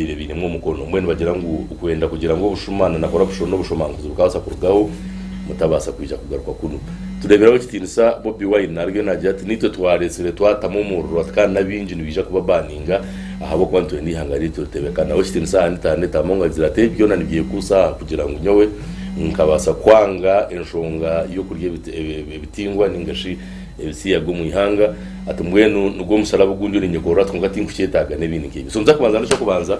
babaire bainemu omukono. Mbwenu nibagira ngu kwenda kugira ngu obushuma na nakora bushona obushomankuzi bukabaasa kurugaho mutabaasa kwija kugaruka kunu. Tureeberaho ekitiinisa Bobi Wine ariyo naagira ati naitwe twareetsire twatamu omuriro ati kandi n'abaingi nibaija kubabaninga ahabw'okuba nitwenda eihanga ryaitu ritebekanaho ekitiinisa aha intaneeti. Among agira ati ebi byona nibyekuusa aha kugira ngu nyowe nkabaasa kwanga enshonga y'okurya ebitingwa ninga shi Ebitsi yagwa omu ihanga ati mbwenu nigwo omusharaba ogundi orinyekorora kwonka tinkukyetaaga n'ebindi nk'ebyo. So njakubanza nda eky'okubanza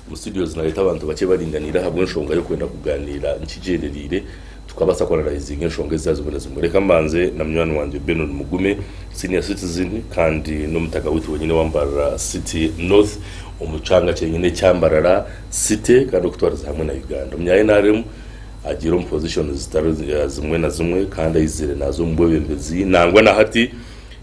omu studios nareeta abantu bakye baringaniire ahabw'enshonga y'okwenda kugaaniira nkigyendereire tukabaasa ku analyzinga enshonga eziza zimwe na zimwe. Reka mbanze na munywani wangye Benon Mugume, senior citizen kandi n'omutaka waitu wenyine wa Mbarara City North omu kyanga kyenyine ekya Mbarara City kandi okutwarize hamwe na Uganda omu NRM. Agiire omu pozishoni zitari zimwe na zimwe kandi aizire naaza omu bwebembezi nangwa na hati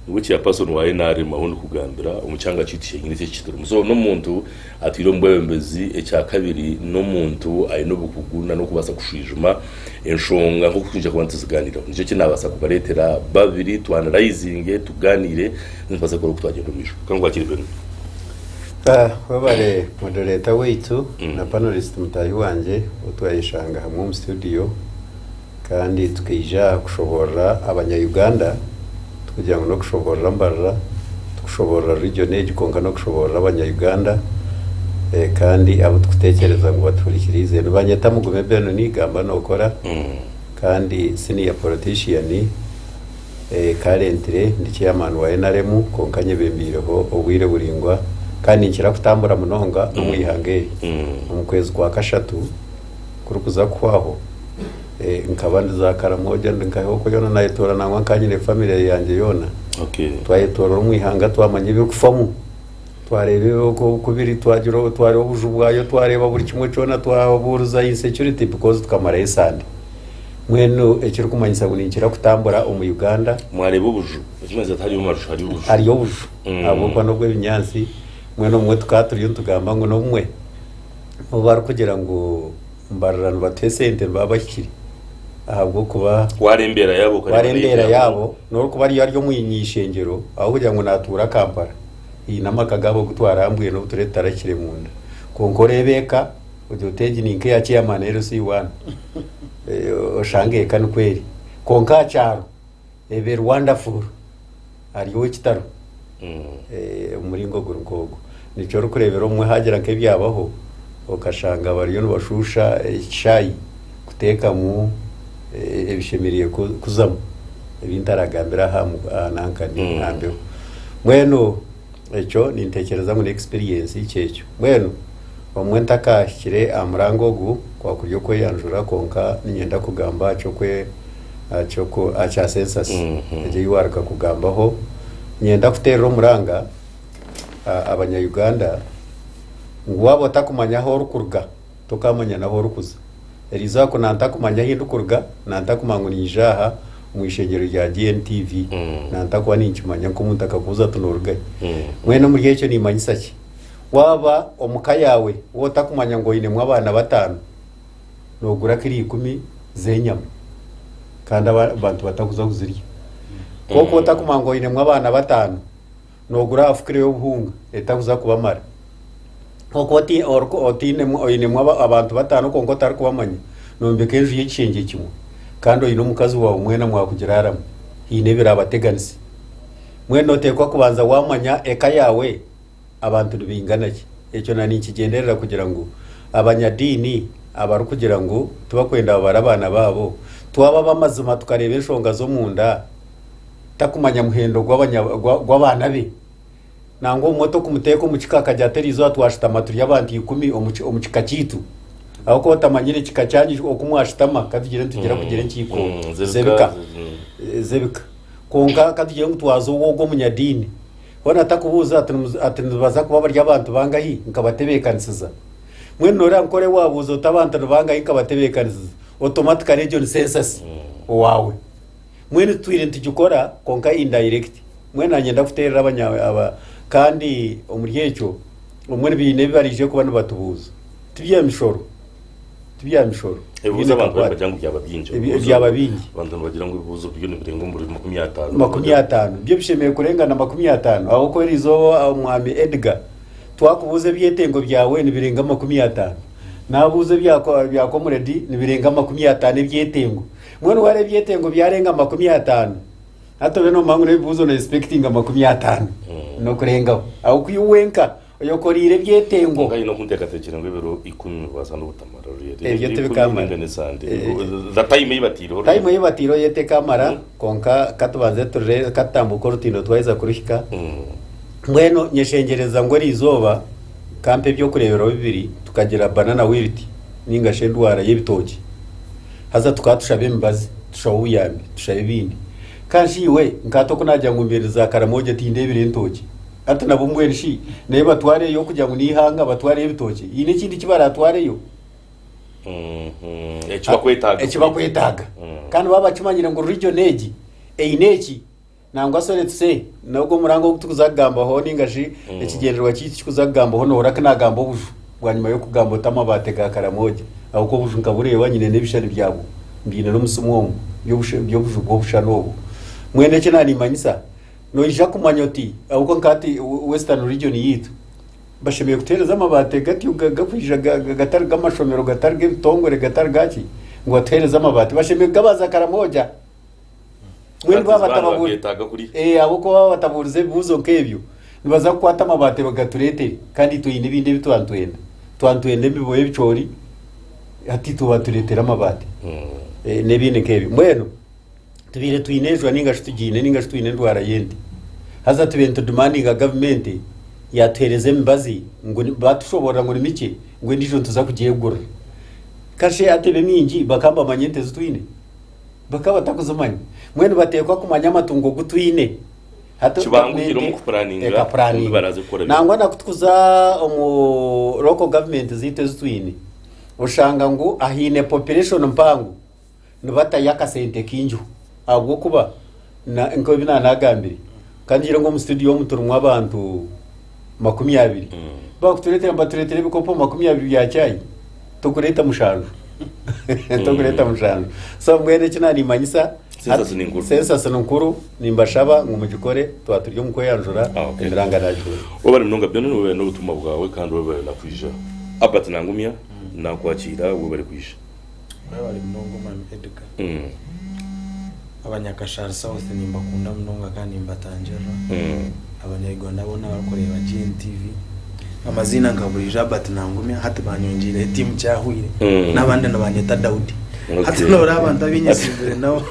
niwe Chairperson wa nrm ahu ndikugambira omu kyanga kyaitu kyenyini eki ekiturimu. So n'omuntu atwire omu bwebembezi. Ekya kabiri n'omuntu aine obukugu na n'okubaasa kushwijuma enshonga nk'oku twiija kuba nituzigaaniiraho. Nikyo ki naabaasa kubareetera babiri tu analyzinge tugaaniire then tubaase kukora oku twagyenda omu maisho. Ka nkwakire Benoni. Ah, webare moderator waitu na panelist mutaahi wangye ou twayeshanga hamwe omu studio kandi tukaija aha kushoboorora abanya-Uganda tikugira ngu n'okushoboorora Mbarara, tikushoboorora region egi kwonka n'okushoboorora abanya-Uganda eh, kandi abu turikuteekyereza ngu batuhurikiriize. Nibanyeta Mugume Ben Niigamba Nookora kandi senior politician. ee, kaalentire ndi chairman wa nrm kwonka nyebembeireho obwire buraingwa kandi ninkira kutambura munonga omu ihanga eri. Omu kwezi kwa kashatu kurikuza kuhwaho, ee, nkaba ndi za Karamoja ndi nka Hoko yoona naayetoorora nangwa nkaba nyine famire yangye yoona. Okay. Twayetoorora omu ihanga twamanya ebirikufamu. Twareeba oku oku biri, twagira obu twareeba obuju bwayo, twareeba buri kimwe kyona, twabuuriza insecurity because tukamarayo esande. Mbwenu ekirikumanyisa ngu ninkira kutambura omu Uganda, Mwareeba obuju? Ekimanyisa tihariyo amaju, hariyo obuju. hariyo obuju Mm. ahabw'okuba n'obw'ebinyaatsi mbwenu obumwe tukaba turiyo nitugamba ngu n'obumwe obu barikugira ngu mbarira nibatuha esente nibaba bahikire ahabw'okuba Waara embeera yaabo okareba twara embeera nayo- yaabo n'orikuba ariyo ari omu ishengyero ahabw'okugira ngu naatuura Kampala Haine amaka gaabo agu twaaraha mbwenu abu turabe tutarakire munda. Kwonka oreeba eka, ogira oti egi ni nk'eya chairman LC1. Oshange eka nikwo eri. Kwonka aha kyaro eba eri wonderful. Ari ow'ekitaro. Eh, omu muringo guri nk'ogwo. Nikyo orikureebera obumwe haagira nk'ebyabaho, okashanga bariyo nibashuusha ekishaayi. kuteekamu ebishemereire kuzamu ebi ntaragambire aha nankani aha mbeho mbwenu ekyo ninteekyereza ngu n'experience kyekyo mbwenu obumwe ntakaahikire aha murango ogu kwakuri okweyanjura kwonka niinyenda kugamba aha kyokwe aha kya census mhm. egyo ei waaruka kugambaho niinyenda kuteerera omuranga abanya Uganda ngu waaba otakumanya ahu orikuruga tokaamanya n'ahu orikuza. Eriizooba ku nantakumanya ahu ndikuruga, nantakumanya ngu niija aha omu ishengyero rya GNTV, nantakuba ninkimanya nk'omuntu akakubuuza ati nooruga hi? Mbwenu omuri ekyo niimanyisa ki? Waaba omu ka yaawe ou otakumanya ngu oinemu abaana bataano, noogura kiro ikumi z'enyama kandi abantu batakuza kuzirya. Kwonka ou otakumanya ngu oinemu abaana bataano, noogura aha fukire y'obuhunga etakuza kubamara. Kwonka oti- oriku- otainemu- oinemu aba- abantu bataano kwonka otarikubamanya, noombeka enju y'ekishengye kimwe, kandi oine omukazi waawe mwena mwakugiraaramu, haine ebiraabateganisa. Mbwenu nooteekwa kubanza waamanya eka yaawe abantu nibaingana ki. Ekyo na ninkigyenderera kugira ngu abanyadiini abarikugira ngu tibakwenda babare abaana baabo, twaba ab'amazima tukareeba enshonga z'omunda, takumanya muhendo gw'abaana be nangwa obumwe tokumuteeka omu kika akagira ati eriizooba twashutama turi abantu ikumi omu kika kyaitu ahabw'okuba otamanyire ekika kyanyu oku mwashutama katugire nitugira kugira enkiiko mm, z'ebika mm. z'ebika kwonka katugire ngu twaza owo ogw'omunyadiini hoona takubuuza ati nibaza kuba bari abantu bangahi nkabatebeekanisiza mwenu noreeba nkore waabuuza oti abantu nibangahi nkabatebeekanisiza automatically egyo ni sensasi mm. owaawe Mbwenu titwine nitukikora kwonka indirect mbwenu nanyenda kuterera abanya aba kandi omuri ekyo omuri biine ebi barije kuba nibatubuuza tibya mishoro tibya mishoro ebibuuzo abantu baribagira ngu byaba bingi Ebi- Ebibuuzo- byaba bingi. abantu nibagira ngu ebibuuzo biriyo nibirenga omuri makumi ataano makumi ataano byo bishemereire kurenga na makumi ataano ahabwokuba erizooba omwami edgar twakubuuza ebyetengo byawe nibirenga makumi ataano nabuuza ebya ko- ebya comrade nibirenga makumi ataano ebyetengo Mbwenu ware ebyetengo byarenga makumi atano hati obe nomanya ngu n'ebibuzo no expectinga makumi atano nokurengaho aho kuyu wenka oyokoreire ebyetengo Nka ino kunteekateekyire ngu ebiro ikumi nibibaasa n'obutamarira orurere. Ebyo Ebiro ikumi tibikamara. ninga ne Sande. Eh, Ngu- The time ei bataireho time orurere. ei bataireho yo tekamara Mm. konka katubanze turire katutambuuke orutindo twaheza kuruhika Mm. mbwenu nyeshengyereza ngu erizooba kampa ebyokureeberaho bibiri tukagira banana wilt ninga shi endwara y'ebitookye Haza tukaba tushaba emibazi, tushaba obuyambi, tushaba ebindi. Ka shi iwe, nk'ati oku naagira ngu mbyendeze za Karamoja tindeebire ntookye. Hati nabo mbwenu shi n'ebi batwareyo kugira ngu n'eihanga batwareyo ebitookye, haine ekindi ki baraatwareyo? Eki bakwetaaga. Eki bakwetaaga. Kandi baba bakimanyire ngu region egi eine eki. Nangwa shi oretse n'ogwo murango ogu turikuza kugambaho ninga shi ekigyendererwa kyaitu kirikuza kugambaho nohurira ku naagamba obuju bwanyima y'okugamba oti amabaate ga Karamoja ahabw'okuba obuju nkabureeba nyine n'ebishushani byabwo mbyine n'omusimu omu by'obusha- by'obuju bw'obushushani obwo. Mbwenu eki na niimanyisa noija kumanya oti ahabw'okuba nka hati we- Western Region yaitu bashemereire kutuheereza amabaate gatyo ga- gakwija ga- ga- gatari g'amashomero gatari g'ebitongore gatari gaaki ngu batuheereze amabaate bashemereire kugabaza Karamoja. Mbwenu Ati, baaba zibani batababu- bageetaaga kuriha? Eh, ahabw'okuba baaba batabuurize ebibuuzo nk'ebyo nibaza kukwata amabaati bagatureetere kandi itwe haine ebindi ebi tuba nitwenda tuba nitwenda emiboye ebicoori hati itwe batureetere amabaati Eh, n'ebindi nk'ebyo mbwenu tubaire twine enjwa ninga shi tugiine ninga shi twine endwara y'ente haza tubaire nitudimandinga gavumenti yaatuheereza emibazi ngu ni- baatushoboorora ngu ni mikye ngu endiijo nituza kugyegurira kashe hati ebe mingi bakaba nibamanya ente ezi twine bakaba batakuzimanya mbwenu bateekwa kumanya amatungo gu twine hati Kibangukire gavumenti omu kupuraninga, ekapuraninga. obundi baraaze kukora bimwe. nangwa nakutukuza omu local government ziitu ezi twine oshanga ngu ahaine population mpango nibatayo akasente kaingiho ahabw'okuba Na, nk'oku ebi naanagambire, ka ngire ngu omu situdiyo omu turimu abantu makumi abiri bakutureetera nibatureetera ebikopo makumi abiri bya caayi tokureeta mushanju tokureeta mushanju so mbwenu eki naanimanyisa Census ni nkuru. sensasi ni nkuru nimbashaba ngu mugikore twaba turi omu kweyanjura Ah, okay. emiranga naagikora webale munonga byoona webale n'obutumwa bwawe kandi webale na kwija albert nangumya nakwakiira webale kwija Mwebare munonga Omwami Edgar. Abanyakashari South nimbakunda munonga kandi nimbatangirira. Abanya Uganda boona abarikureeba GNTV. Amaziina nka buriijo Albert Nangumya hati banyongeireho etiimu Kyahwire n'abandi nibanyeta Daudi. Hati Okay. noreeba abantu abinyesiibire nabo.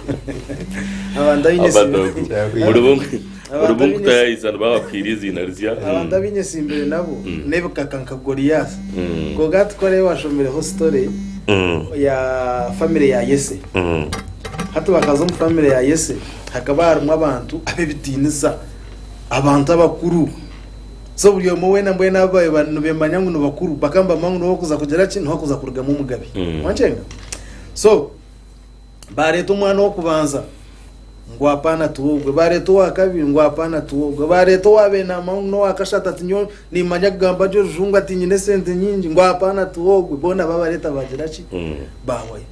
Abantu abinyesiibire. Abadoogo. Buri bumwe. Abantu Oribu abaine nkuta ya izanu babakuhaire eiziina rizya. Abantu abu nyesimbire nabo n'ebikaka nka Goliath. Kwonka hati ku oraabe washomireho story ya family ya Yese. Hati bakaza omu family ya Yese hakaba harimu abantu ab'ebitiinisa, abantu abakuru. So buri omwe weena mbwenu abu baabaire ba- nibemanya ngu nibakuru bakaba nibamanya ngu niwe orikuza kugira ki, niwe orikuza kurugamu omugabe. Wankyenga? So Baareeta omwana ow'okubanza ngu apaana tuwe ogwe, baareeta owa kabiri ngu apaana tuwe ogwe, baareeta owa beenama ngu n'owa kashatu ati nyowe nimanya kugamba gye orujungu ati nyine esente nyingi ngu apaana tuwe ogwe, boona baabareeta baagira ki mm. baahwayo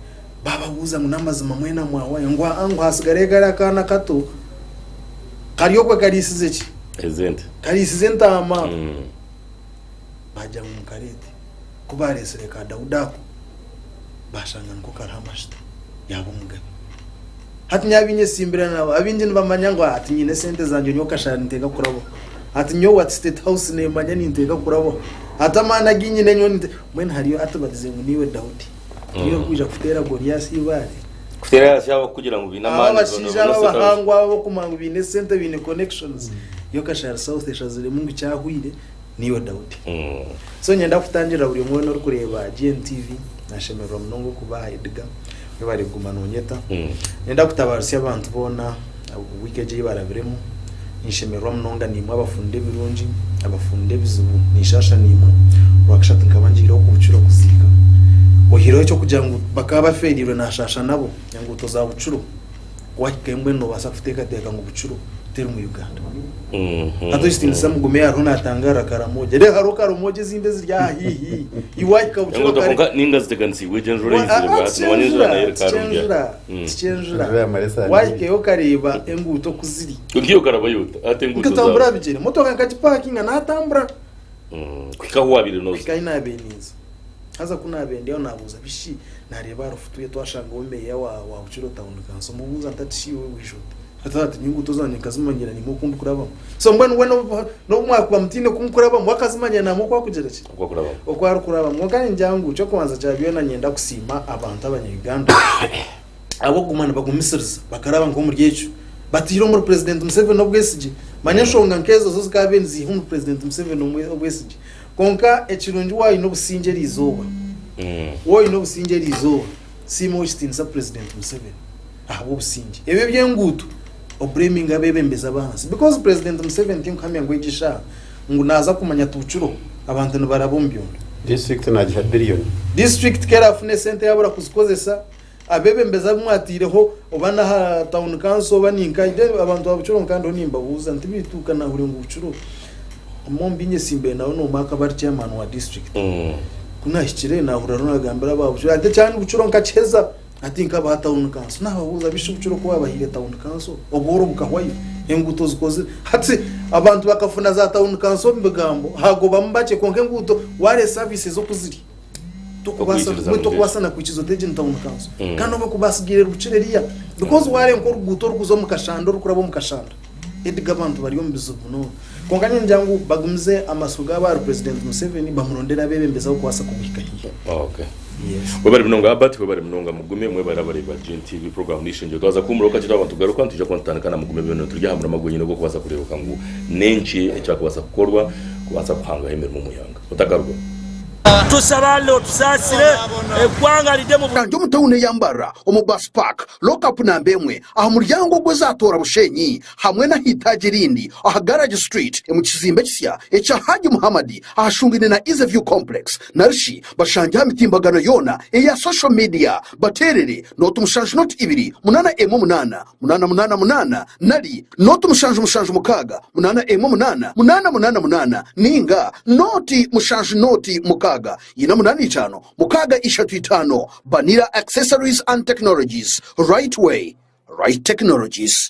baababuuza ngu n'amazima mwena mwahwayo ngu aa ngu haatsigareyo kariya kaana kato kari okwe kariisize ki kariisize entaama mm. baagira ngu mukareete Ku baareetsire ka Daudi ako, baashanga niko kariho amajuta, yaaba omugabe. Hati nyowe abaine esimbira nabo, abaingi nibamanya ngu hati nyine esente zangye nyowe kashari ninteeka kurabaho. Hati nyowe at State House neemanya ninteeka kurabaho. Hati amaani agu nyine nyowe nite-. Mbwenu hariyo ati barize ngu niiwe Daudi. Niiwe orikwija kuteera Goliasi eibaare? Kuteera ahansi yaabo abarikugira ngu baine Abo amaani boona abashaija abo boona State House. abahangwa abo abarikumangu baine esente, baine connections. Yo kashari South eshaziremu ngu kyahwaire, niiwe Daudi. So niinyenda kukutangirira buri omwe weena orikureeba GNTV, naashemererwa munonga okubaaha Edgar, webare kuguma noonyeta. Niinyenda kutabaarutsya abantu boona wiiki egi ei barabiremu, ninshemererwa munonga naimwe abafunire ebirungi, abafunire ebizibu, ninshaasha naimwe. Orwakashatu nkaba ngiire oku bukiire okuziika, oyihireho eky'okugira ngu bakaba bafeereirwe naashaasha nabo, enguuto za Bukiro wahika embwenu nobaasa kuteekateeka ngu bukiro teri mu uganda mhm. hati ekitiinisa mugume hariho natangaarira karamoja reero hariho karamoja ezindi eziri aha hihi iwahika bukironinga ziteganisiibwe egyenjuratikyenzura mm. wahikayo okareeba enguuto oku ziri nkatambura bigyere motoka nkagipaakinga natambura mm. kuhikaho waabire noza Haza ku naabendyaho naabuuza bi shi naareeba ahari futu ye twashangaho meeya wa wa Bukiro Town kanso mubuuza nti ati shi iwe bwije ota? Hati hati nyowe enguuto zangye nkazimanyira nyine oku ndikurabamu. So mbwenu we n'obu n'obu mwakuba mutaine ku mukurabamu wakazimanyira naamwe oku akugira ki? Oku akurabamu. Oku arikurabamu. Kwonka niingira ngu eky'okubanza kya byona niinyenda kusiima abantu Abanya-Uganda ahabw'okuguma nibagumisiriza bakaraba nk'omuri ekyo bataire omuri Purezidenti Museveni obwesigye. Manya enshonga nk'ezo zo zikaabaire niziiha omuri Purezidenti Museveni omwe obwesigye. Kwonka ekirungi waayine obusingye eri izooba, waaba oyine obusingye eri izooba, siima ow'ekitiinisa Purezidenti Museveni ahabw'obusingye. Ebi eby'enguuto obreminge abeebembezi ab'ahansi because Purezidenti Museveni tinkuhamya ngu egi shaaha ngu naaza kumanya ati bukiroho abantu nibaraba omu byondo. Disiturikiti naagiha biriyoni. Disiturikiti ku erafuna esente yaabura kuzikozesa Abebembezi abu mwataireho oba n'aha town council oba ninka i then abantu ba Bukiro nkaba ndiho nimbabuuza nti baitu ka naahurire ngu Bukiro omwe omu baine etsimba nawe n'omwe akaba ari chairman wa district. Ku naahikire naahurira ariho naagambira aba Bukiro ati ekyandi Bukiro nkakiheza hati nkabaha town council. Naababuuza ngu shi Bukiro ku waabahaire town council obworo bukahwayo? Enguuto zikozire? Hati abantu bakafuna za town council omu bigambo haagobamu bakye kwonka enguuto ware services oku ziri. Tokubaasa Okwikiriza mbwenu tokubaasa Mutesi. na kwikiriza oteegye ni town council kandi obu okuba asigaire rukiri eriya because waarenga oruguuto orikuza omu kashanda orikuraba omu kashanda Edgar abantu bari omu bizibu munonga kwonka nyowe ningira ngu bagumize amatsiko gaabo ahari president Museveni bamurondere abeebembezi abarikubaasa kumuhika haihi Okay. Yes. Webare munonga Albert, webare munonga Mugume, mwebare abareebi ba GNTV program n'eishengyero. Twaza kuhumuraho kakye twaba nitugaruka, nitwija kuba nitutandika na Mugume byona turi aha murama gwenyine ogw'okubaasa kureebeka ngu n'enki ekyakubaasa kukorwa kubaasa kuhangaho emirimo omu ihanga. otakarugamu. Tushaba Allah otusaasire, egwanga ride omu. Kanti omu tawuni eya Mbarara, omu Bus Park, Lockup namba emwe, aha muryango ogw'ezaatoora Bushenyi, hamwe n'aha itaagi erindi aha Garage Street, omu kizimbe ekisya ekya Hajji Muhammad ahashungaine na Easy View Complex, narishi bashangye aha mitimbagano yoona eya social media bateerere nooti mushanju nooti ibiri munaana emwe munaana. munaana munaana munaana nari nooti mushanju mushanju mukaaga munaana emwe munaana munaana munaana munaana nainga nooti mushanju nooti mukaaga ina munaana itaano mukaaga ishatu itaano Banira Accessories and Technologies Right Way Right Technologies.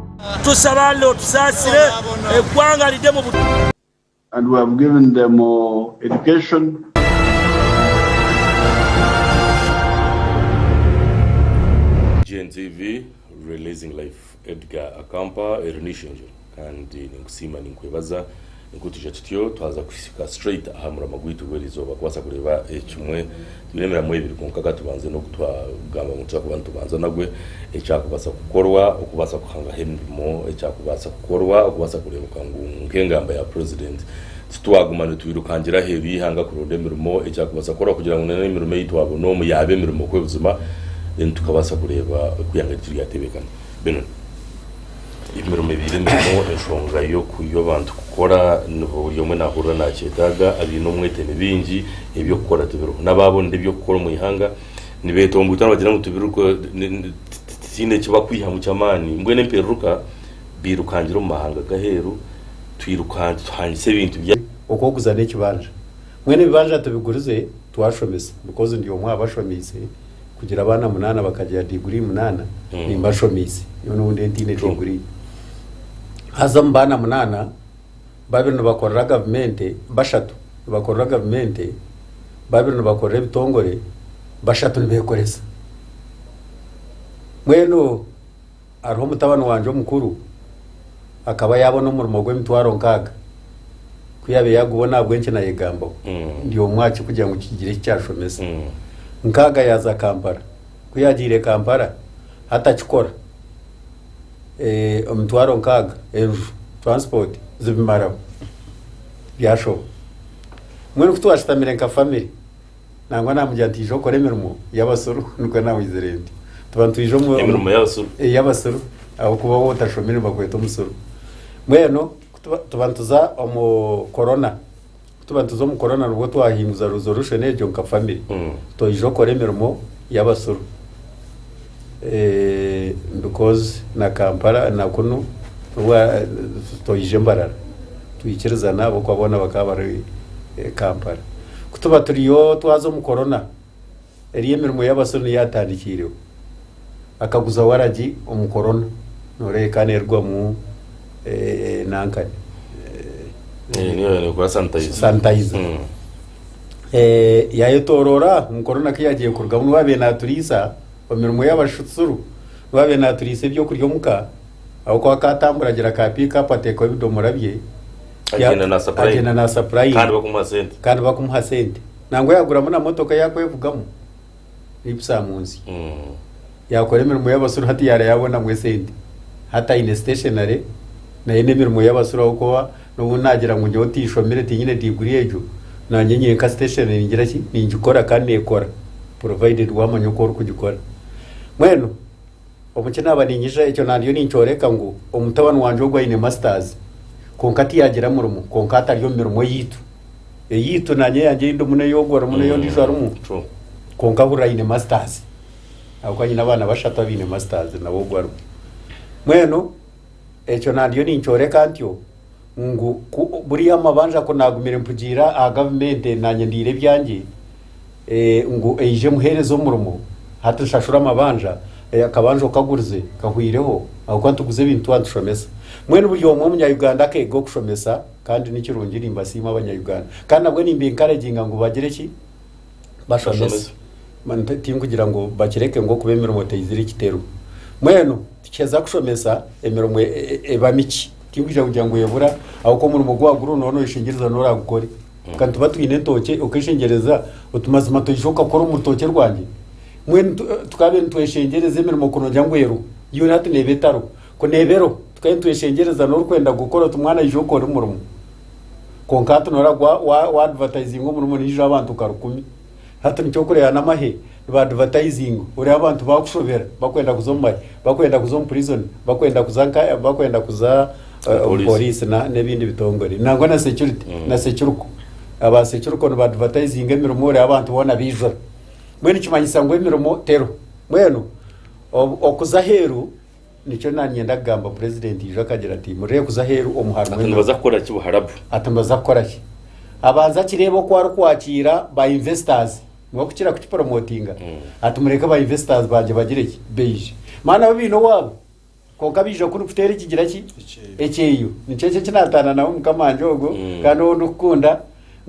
And we have given them education. GNTV, Releasing Life Edgar Akampa eri n'eishengyero kandi ninkusiima ninkwebaza. Ni ku tuija tutyo twaza kuhitsika straight aha muramwa gwaitu gw'erizooba kubaasa kureeba ekimwe. Twine emiramwa ebiri kwonka ka tubanze n'ogu twagamba ngu nituza kuba nitubanza nagwe, ekyakubaasa kukorwa okubaasa kuhangaho emirimo, ekyakubaasa kukorwa okubaasa kureebeka ngu nk'engamba ya President titwaguma nitwirukangira aheeru y'eihanga kuronda emirimo, ekyakubaasa kukorwa kugira ngu n'emirimo ei twabona omu yaaba emirimo kwebuzima then tukabaasa kureeba ku ihanga ryaitu ryatebeekana. Benon. Emirimo ebaire emirimu enshonga y'abantu kukora, buri omwe naahurira naakyetaaga, abaine omwete ni baingi, eby'okukora tibiriho. N'abaabonera eby'okukora omu ihanga nibeetomboita nibagira ngu titwine eki barikwihamu ky'amaani. Mbwenu empereruka bairukangire omu mahanga g'aheeru, tuhangise ebintu byaitu. Okw'okuza n'ekibanja. Mbwenu ebibanja tubigurize twashomesa, ahakuba ndi omwe aha bashomiise, kugira abaana munaana bakagira diguri munaana mm. nimbashomiise nyowe noundi entiine diguri haza omu baana munaana babiri nibakorera gavumenti bashatu nibakorera gavumenti babiri nibakorera ebitongore bashatu nibekoresa mbwenu Hariho mutabani wangye omukuru akaba yaabona omurimo gw'emitwaro nkaaga. Ku yaabaire yaagubona ahabw'enki naayegambaho ndi omwe aha ki kugira ngu kigire eki kyashomesa? Nkaaga yaaza Kampala. Ku yaagiire Kampala, hati akikora. Emitwaro nkaaga, enju, turansipoti zibimaraho. Byashoba. Mbwenu ku twashutamire nka famire. Nangwa namugira nti ija okore emirimo y'abasuru nikwo nawizire ntyo tuba nitwija omu- omu- emirimo y'abasuru Eh, y'abasuru ahabwokuba waaba otashomire nibakweta omusuru mbwenu kutuba- tuba nituza omu korona kutuba nituza omu korona nibwo twahinguza resolution egyo nka famire Mm. twija okukora emirimo y'abasuru Because na Kampala na kunu toija Mbarara twikirizana ahabw'okuba boona bakaba bari Kampala. Ku tuba turiyo twaza omu Corona eriyo emirimo y'abasyo niyo yatandikiireho. Akaguza waragi omu Corona nooreeba ekaba neerugwamu nankani. Sanitizer. eh, yaayetoroora ngu korona ku yaagiire kurugamu niwe abaire naaturiisa omu mirimo y'abashutsuru niwe abaire naaturiisa eby'okurya omuka ahabw'okuba akaatambura agira ka piikapu ateekaho ebidoomora bye ya- Agyenda na supply. agyenda na supply. kandi bakumuha sente kandi bakumuha sente nangwa yaguramu na motoka yakwevugamu nibisa munsi yakora emirimo y'abasuru hati yara yabonamu esente hati aine stationary naye n'emirimo y'abasuru ahabw'okuba n'obu nagira ngu nyowe tinshomire tinyine diguri egyo nanye nyenka stationary ningira ki ningikora kandi nekora provided wamanya oku orikugikora mbwenu Obu kinaaba niinyija ekyo naandiyo ninkyoreka ngu omutabani wangye ogwo aine masitaazi kwonka tiyaagira murimo, kwonka atari omu mirimo yaitu. Eyaitu naanye eyangye ei ndimu n'ei ogwo arimu n'ei ondiijo arimu. Kwonka hurira aine masitaazi. Ahabw'okuba nyine abaana bashatu abaine masitaazi nawe ogwo arimu. Mbwenu ekyo naandiyo ninkyoreka ntyo ngu ku buriya amabanja ku naagumire mpugiira aha gavumenti naanye ndiire ebyangye eh, ngu eije emuheereze omurimo hati nshashura amabanja eh, akabanja okagurize kahwireho ahabw'okuba nituguza ebintu tuba nitushomesa mbwenu buri omwe omunyayuganda akeega okushomesa kandi nikirungi nimbasiima abanyayuganda kandi nabwo nimba enkaraginga ngu bagire ki bashomesa. Man, ti- tinkugira ngu bakireke ngu okuba emirimo teizire ekitero mwenu tukiheza kushomesa emirimo e- e- e- eba miki tinkugira kugira ngu ebura ahabw'okuba omurimo ogu wagura noona oyeshengyereza noona oragukore kandi tuba twine entookye okeshengyereza oti mazima ntoija okakora omu rutookye rwangye mbwenu tu- tukaabe nitweshengyereza emirimo kunoogira ngu eruho yoona hati neeba etariho ku neeba eroho tukaabe nitweshengyereza n'orikwenda kugukora oti mwana ija okore omurimo kwonka hati noreeba wa- wa- wa advertising omurimo niija abantu nka rukumi hati nikyo orikureeba n'amahe niba advertising oreeba abantu baakushobera bakwenda kuza omu mahe bakwenda kuza omu prison bakwenda kuza nka bakwenda kuza eh, omu Police. police na- n'ebindi bitongore nangwa na security Mm. na securuko aba securuko niba advertising emirimo oreeba abantu boona baijura mbwenu nikimanyisa ngu emirimo teriho mbwenu ob- okuza aheeru Nikyo nanyenda kugamba Purezidenti Iju akagira ati, Murire kuza aheeru omu harmu Ati nibaza kukora ki buharabu? Ati nibaza kukora ki? Abanze akireebe oku arikwakiira ba investors niwe kukira kukiporomotinga. Ati mureke ba investors bangye bagire ki? Baije. Mani nabo baine owaabo. Kwonka baije oku orikuteera ekigira ki? Ekyeyo. Nikyo eki eki nataananaho mukama wangye ogwo kandi ou ndikukunda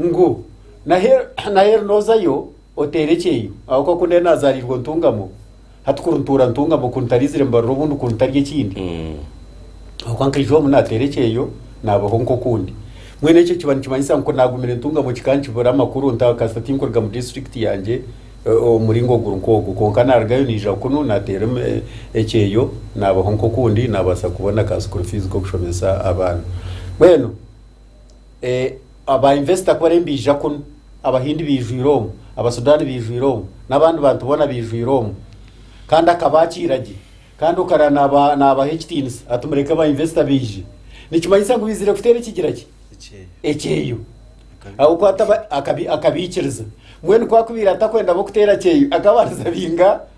ngu n'aheeru n'ozayo Oteera ekyeyo ahabw'okuba ku nari naazaariirwa ntungamo, hati ku ntuura ntungamo, ku ntariizire mbarura obundi ku ntarya ekindi. Ahabw'okuba nkaija omu naateera ekyeyo, naabaho nk'okundi. Mbwenu ekyo kiba nikimanyisa ngu naagumire ntungamo kikankibura amakuru nta kasita tinkuruga mu disiturikiti yangye omu muringo guri nk'ogwo. Kwonka naarugayo naija kunu naateera ekyeyo, naabaho nk'okundi, naabaasa kubona ka sukuuru fiizi k'okushomesa abaana. Mbwenu. Aba investor ku bariyo nibaija kunu, Abahindi baijwire omu, Abasudani baijwire omu, n'abandi bantu boona baijwire omu. Kandi akaba akiira gye. Kandi okareba naaba- naabaha ekitiinisa ati mureke ba investor baije. Nikimanyisa ngu baizire kuteera ekigira ki? Ekyeyo. ekyeyo Akabi- ahabw'okuba ataba- akabi- akabaikiriza mbwenu ku akubaire atakwenda bo kuteera kyeyo akabariza bainga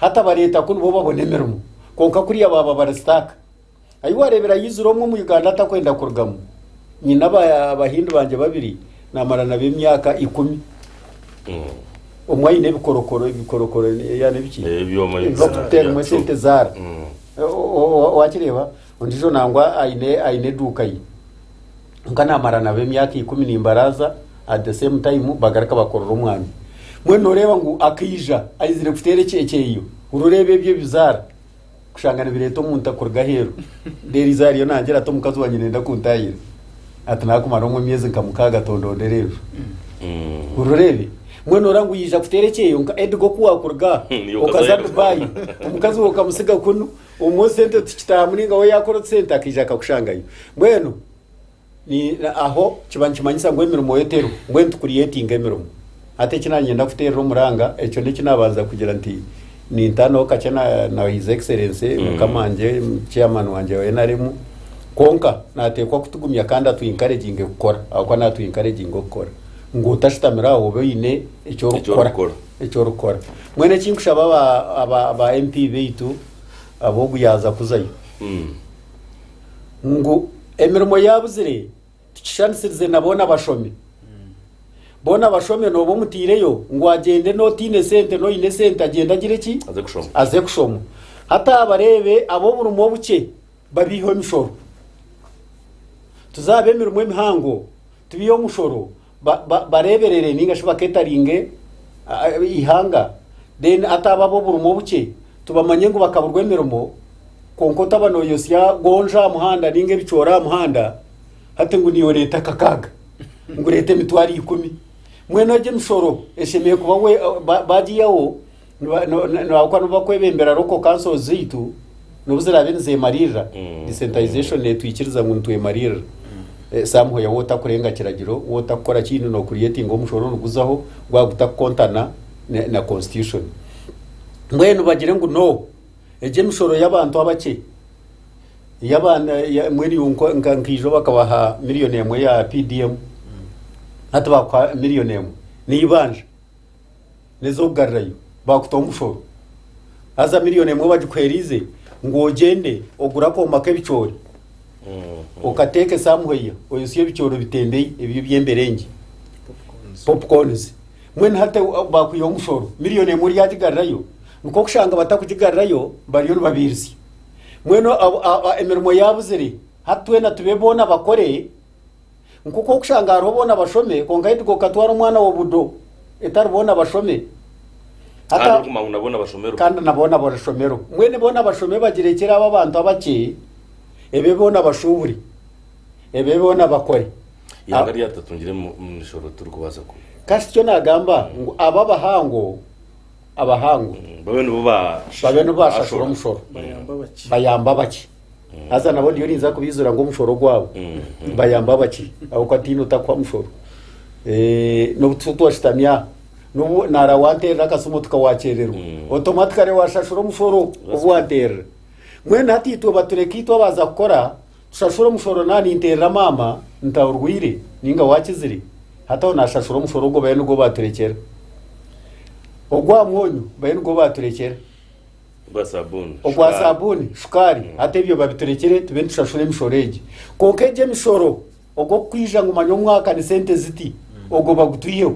Hati bareeta ku nibo babona emirimo kwonka kuriya baaba bari stuck. Ayi wareebera yizire omwe omu Uganda atakwenda kurugamu. Nyine abahindi bangye babiri namara nabo emyaka ikumi. Omwe ayine ebikorokoro ebikorokoro yani ebiki ebibakuteeramu esente zaara. Wakireeba ondijo nangwa ayine ayine eduuka ye. kwonka namara nabo emyaka ikumi nimbaraza at the same time bagaruka bakorera omwami mbwenu noreeba ngu akaija aizire kuteera ekyekyeyo rureeba ebyo ebizaara kushanga nibireeta omuntu akuruga aheeru deriza ariyo nangira ati omukazi wanye nenda kuntayira ati nakumara omwe emyezi nka mukaaga tondondera enju urureebe mbwenu ora ngu yija kuteera ekyeyo nka edigo kuwakuruga Hmm, okaza okaza Dubai. dubai omukazi we okamusiga kunu Omwe sente tikitaha muringa we yakora otusente akaija akakushangayo mbwenu aho kiba nikimanyisa ngu emirimo yo teriho mbwenu tikuriyetinga emirimo hati eki nanyenda kuterera omuranga ekyo neki nabanza kugira nti nintanaho kakye na his excellency mm. mukama nje chairman wanje wa NRM konka natekwa kutugumya kandi atu encouraging kukora akuba natu encouraging okukora ngu otashitamira aho obe oyine ekyorikukora eki orikukora mbwenu eki nkushaba aba- aba aba mp baitu ab'ogu yaaza kuzayo ngu emirimo yaabuzire tukishanisirize na boona bashome boona bashome nooba omutaireyo ngu agyende n'otaine sente n'oine sente agyende agire ki aze kushoma aze kushoma hati abareebe ab'oburimo obukye babeiho emishoro tuzaabe emirimo emihango tubeiho omushoro ba- ba- bareeberere ninga shi baketaringe ah, ah, eihanga then ataaba ab'oburimo obukye tubamanye ngu bakaburwa emirimo kwonka otaba noyosya gonja aha muhanda ninga ebicoori aha muhanda hati ngu niyo oreeta kakaaga ngu oreeta emitwaro ikumi mbwenu egyo emishoro eshemeire kuba we- ba- bagiyaho Niba- no- no- noahakuba nibo bakwebembera local councils zaitu nobu ziraabe nizeemaririra Mm. decentralization netwikiriza ngu nitwemaririra Eh, somehow yawe otakurenga kiragiro we otakukora kiini nokureyetinga omushoro oruguzaho gwaba gutakukontana ne- na constitution mbwenu bagire ngu no egyo emishoro y'abantu abakye y'abaana ya- mbwenu iwe nko- nka- nkaijo bakabaha miliyoni emwe ya pdm hati bakuha miliyoni emwe neibanja n'ez'okugarurayo baakutaho omushoro. Haza miliyoni emwe bagikuheeriize ngu ogyende ogure akooma k'ebicoori okateeka esamuheiya oyosye ebicoori obitembeyi ebyo eby'emberengye popcorns mbwenu hati ahu baakwihaho omushoro miliyoni emwe oryagigarurayo nk'okushanga batakugigarurayo bariyo nibabiirisya mbwenu abo- a- a- emirimo yaabuzire hati twena tube boona bakore Nk'oku orikushanga hariho boona bashome kwonka haitu gwe okatwara omwana wa budo etari boona bashome. Hati Kandi a- orikuguma ngu na boona bashomerwe. kandi na boona barashomerwa. Mbwenu boona bashome bagirekyere abo abantu abakye ebe boona bashuubure, ebe boona bakore. Ihanga A- rya tutatungire mu mu mishoro turikubaasa ku. Kasi tikyo naagamba ngu abo abahango abahangwe babe nibo babe nibo bashashura omushoro bayamba abaki bayamba abaki haza nabo ndiyo ninza kubizura ngu omushoro gwabo bayamba abaki ahabwokuba tiine otakuha mushoro Eh, nobu tu- twashutami aha nobu nara wanterera akasimu otuka wakyererwa automatically washashura omushoro obu wanterera mwena hati itwe batureka itwe abaza kukora Kushashura omushoro na ninterera maama nta orwaire ninga wakizire hati aho nashashura omushoro ogwo bayo nigwo baturekyera ogwa mwonyo bayo nigwo baturekyera Ogwa sabuuni. ogwa shukaari. sabuuni shukaari hati ebyo babiturekyere tube nitushashura emishoro egi kwonka egi emishoro ogwokukwija ngu manya omwaka ni sente ziti ogwo bagutwiheho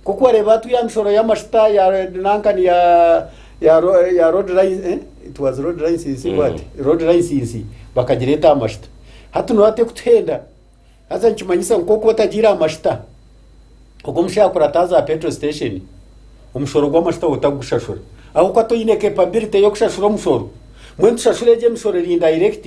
Nk'oku wareeba hati ya mishoro y'amashuta ya Red nanka ni ya ya ro- eh, ya road line eh? it was road license Mm. what road license bakagireeta aha mashuta hati niwe ate kutuhenda haza nikimanyisa nk'oku otagiire aha mashuta ogu omushaija akora ataaza aha petrol station omushoro gw'amashuta otakugushashura ahabw'okuba toine capability y'okushashura omushoro mbwenu tushashure egi emishoro eri indirect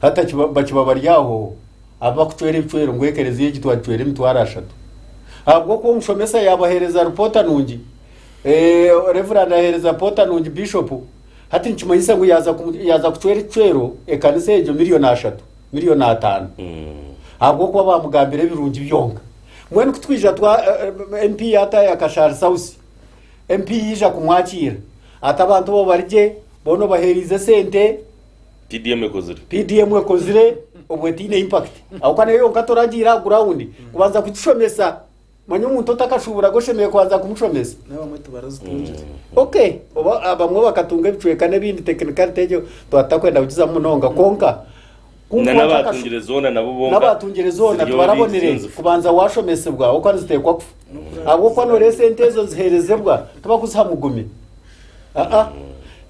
Hati akiba- bakiba bari aho abu bakucwera ebicwero ngu ekereziya egi twagicwera emitwaro ashatu ahabw'okuba omushomesa yaabaheereza ripoota nungi Eh, reverand aheereza ripoota nungi bishop hati nikimanyisa ngu yaaza kumu- yaaza kucwera ekicwero ekanisa egyo miliyoni ashatu miliyoni ataano ahabw'okuba baamugambira ebirungi byonka mbwenu kutwija twa eh, eh, mp yaatayo akashaari sausi mp yaija kumwakiira ati abantu bo bari gye boona obaheeriize sente PDM ekozire. PDM ekozire obwo etaine impact ahabw'okuba nayo yonka toragiira aha ground kubanza kugishomesa manya omuntu otakashuuburaga oshemereire kubanza kumushomesa n'abamwe tibarazitungire mm. ok oba abamwe bakatunga ebicweka n'ebindi technicality egyo tuba tutakwenda kugizamu munonga kwonka n'abatungire zoona nabo bonka n'abatungire zoona tubarabonire kubanza washomesebwa ahabw'okuba niziteekwa kufa ahabw'okuba nooreeba esente ezo niziheerezebwa tibakuziha mugumi aa ah, ah. mm.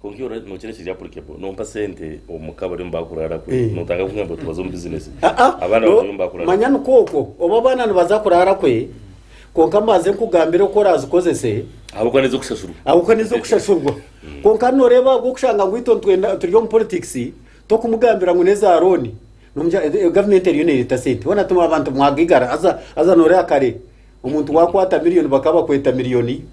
Kwonka iwe ora- nookira kiri applicable. Nompa sente omuka bariyo nibakuraara kwe. Eh. Notandika kugamba nti tubaze omu business. Ah, ah, Abaana no, bariyo nibakuraara manya kwe. nikwo okwo oba abaana nibaza kuraara kwe kwonka mbanze nkugambire oku oraazikozese Ahabw'okuba nizo kushashurwa. ahabw'okuba nizo kushashurwa kwonka nooreeba ahabw'okushanga ngu itwe nitwenda- turi omu politics tokumugambira ngu n'eza rooni Nomugira, "Eh, gavumenti eriyo neereeta sente bona tuma abantu mwagigara haza haza nooreeba kare Omuntu wakwata miliyoni bakaba bakweta miliyoni.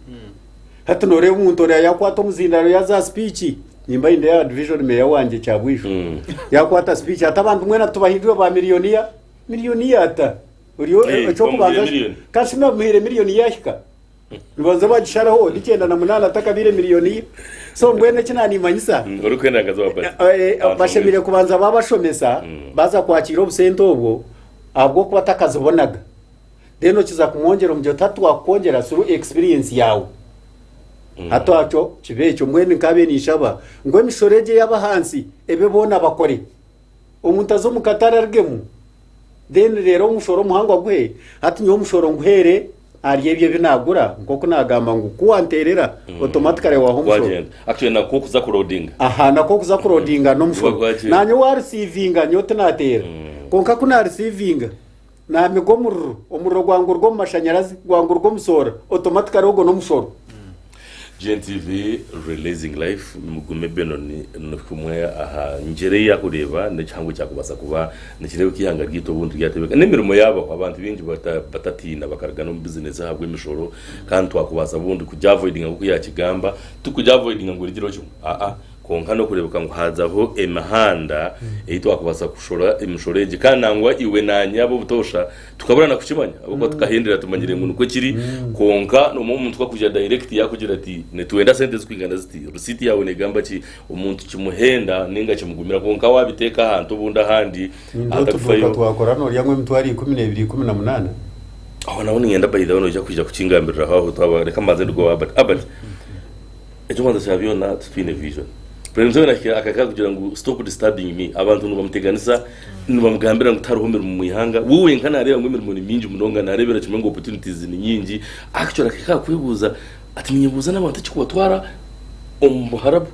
Hati noreeba omuntu oria yakwata omuzindaro yaza speech. Nimba inde ya division mayor wangye kyabwijo. Mm. Yakwata speech ati abantu mwena tubahindure ba miliyoniya. Miliyoniya ata. Orio Eh, ekyokubanza bamuhire miliyoni. kasi namuhire miliyoni yahika. Nibanza bagishareho ni kyenda na munana atakabire miliyoniya. So mbwenu eki nanimanyisa Mm, Orikwenda nkaza wa basi. Eh, eh, Abantu bashemereire bamwe- kubanza babashomesa baza kwakiira obusente obwo ahabw'okuba takazibonaga. then okiza kumwongyera omugyera oti hati twakukwongyera through experience yaawe hati akyo kiba ekyo mbwenu nkabe ninshaba ngu emishoro egyo eyaba ahansi ebe boona bakore omuntu aze omu katare arugemu then reero omushoro omuhango aguhe hati nyowe omushoro nguheere ahari ebyo ebi naagura nk'oku naagamba ngu ku wanteerera automatically waha omushoro gwagenda actually nakwo okuza kurodinga aha nakwo okuza kurodinga Gwa- n'omushoro gwagenda. nanye warisiivinga nyowe tinateera kwonka ku narisiivinga Naamiga omuriro, omuriro gwangurwa omu mashanyarazi, gwangurwa omu soora, automatically ogwo n'omushoro. GNTV Releasing Life Mugume Bino ni kumwe aha ngyera ei yakureeba n'ekihango ekyakubaasa kuba nikireeba oku eihanga ryaitu obuntu ryatebeka n'emirimo yaabaho abantu baingi batatiina bakaruga n'omu bizineesi ahabw'emishoro kandi twakubaasa bundi kugi avoidinga nk'oku yaakigamba, tikugi avoidinga ngu origireho kimwe aa. Kwonka nokureebeka ngu haazaho emihanda ei twakubaasa kushora emishoro egi kandi nangwa iwe naanye ab'obutoosha tukabura na kukimanya ahabw'okuba tukahendera tumanyire ngu nikwo kiri kwonka noomwe omuntu kakuja direct yaakugira ati nitwenda sente zikwingana ziti receipt yaawe neegamba ki omuntu kimuhenda nainga kimugumira kwonka waabiteeka ahantu obundi ahandi Ningira oti ahatarikufayo kwonka twakora nooryamu emitwaro ikumi n'ebiri ikumi na munaana. Aho naho niinyenda by the way noija kwija kukingambiriraho aho twaba reka mbanze nduge owa Albert. Albert Ekyokubanza kya byona titwine vision. President Museveni ahikire akaka kugira ngu stop disturbing me. Abantu nibamuteganisa, nibamugambira ngu tihariho mirimo omu ihanga. We wenka nareeba ngu emirimo ni mingi munonga, narebera kimwe ngu opportunities ni nyingi. Actually akahika aha kwebuuza ati ninyebuuza n'abantu ekikubatwara omu buharabu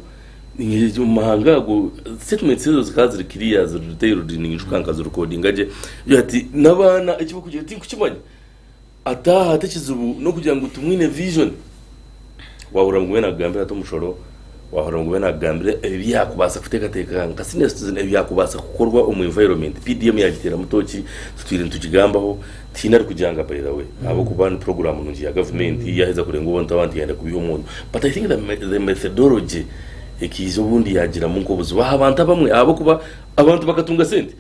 ninga omu mahanga ago. Statements ezo zikaba ziri clear, ziri detailed ninyijuka nkazirecordinga gye. Ati n'abaana ekibarikugira tinkukimanya. Ataaha ati ekizibu nokugira ngu timwine vision wahurira ngu wena akugambira ati omushoro wahurira ngu wena akugambira ebi yakubaasa kuteekateeka nka senior citizen ebi yakubaasa kukorwa omu environment PDM yagiteeramu tooki titwine nitugigambaho tihaine arikugyanga by the way ahabwokuba ni program nungi ya gavumenti yaheza kurenga obuntu abantu yayenda kubiha omuntu but I think the methodology ekaija obundi yagiramu nkobuzibu ahabantu abamwe ahabwokuba abantu bakatunga sente.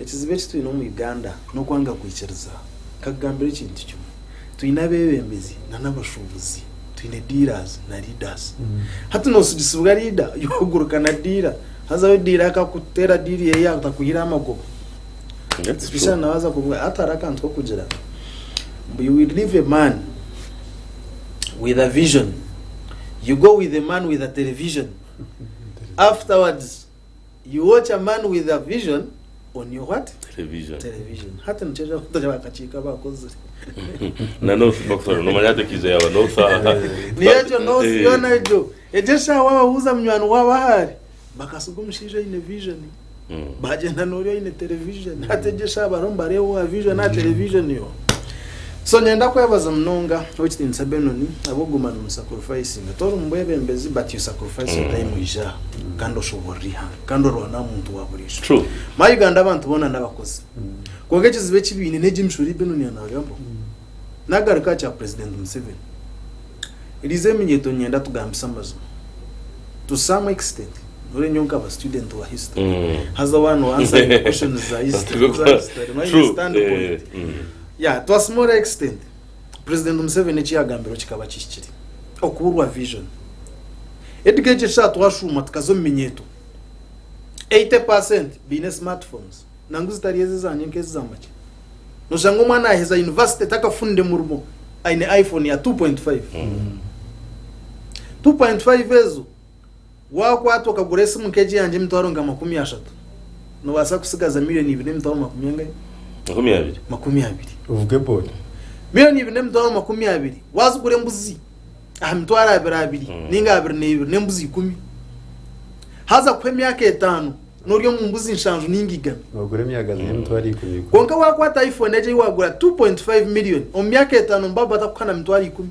Ekizibu eki twine omu Uganda n'okwanga kwikiriza. Nkakugambira ekintu kimwe, twine abebembezi na n'abashubuzi, twine dealers na leaders. Hati nosigisibwa leader yoguruka na dealer, hazaho dealer akakutera deal eye yatakuhiraho amagoba. Especially nawe aza kuvuga hati hariho akantu kokugira mbu you will leave a man with a vision, you go with a man with a television afterwards you watch a man with a vision on your what television television hati nikyo ejo abato bakakiika abakozire na north bakutwara nomanya hati ekiija yaba north aha niyo egyo north Eh, yoona egyo egyo eshaaha wababuuza munywani waabo ahaari bakatsiga omushaija oine vision mm. bagyenda noori oine television hati egyo eshaaha bariho nibareeba owa vision aha television yo So nenda kwebaza munonga owekitiinisa Benon ahabwokuguma nomu sacrificinga tori mubwebembezi but you sacrifice your time oije aha kandi oshoborore ihanga kandi orwane ahamuntu waburijo True. my Uganda abantu boona nabakozi kwonka ekizibu ekibaine negi emishoro eyi Benon anagambaho nagaruka aha kya president Museveni eriize eminyeeto ninyenda tugambise amazima to some extent nyowe nyowe nkaba student wa history Mm. haza one wansaringa questions za history True. my True. standpoint Eh, mm. Yeah, to a small extent, President Museveni eki yagambirwe kikaba kihikire. Okuburwa vision. Edgar egi eshaaha twashuuma tukaza omu minyeeto, 80 per cent baine smartphones, nangu zitari ezi ezangye nk'ezi za makya. Noshanga omwana yaheza university takafunire murimo aine iPhone ya 2.5. 2.5 ezo Waakwatwa okagura esimu nk'egi yangye emitwaro nka makumi ashatu, noobaasa kutsigaza milioni ibiri n'emitwaro makumi angahi? Makumi abiri. Makumi abiri. Ovuge boda. Milioni ibiri n'emitwaro makumi abiri waazigura embuzi aha mitwaro abiri abiri mm. ninga abiri n'ebiri n'embuzi ikumi haza kuha emyaka etaano n'ori omu mbuzi nshanju ninga igana ogura emyagazi y'emitwaro mm. ikumi kwonka waakwata iphone egi ei waagura 2.5 million omu myaka etaano mbaba batakuha na mitwaro ikumi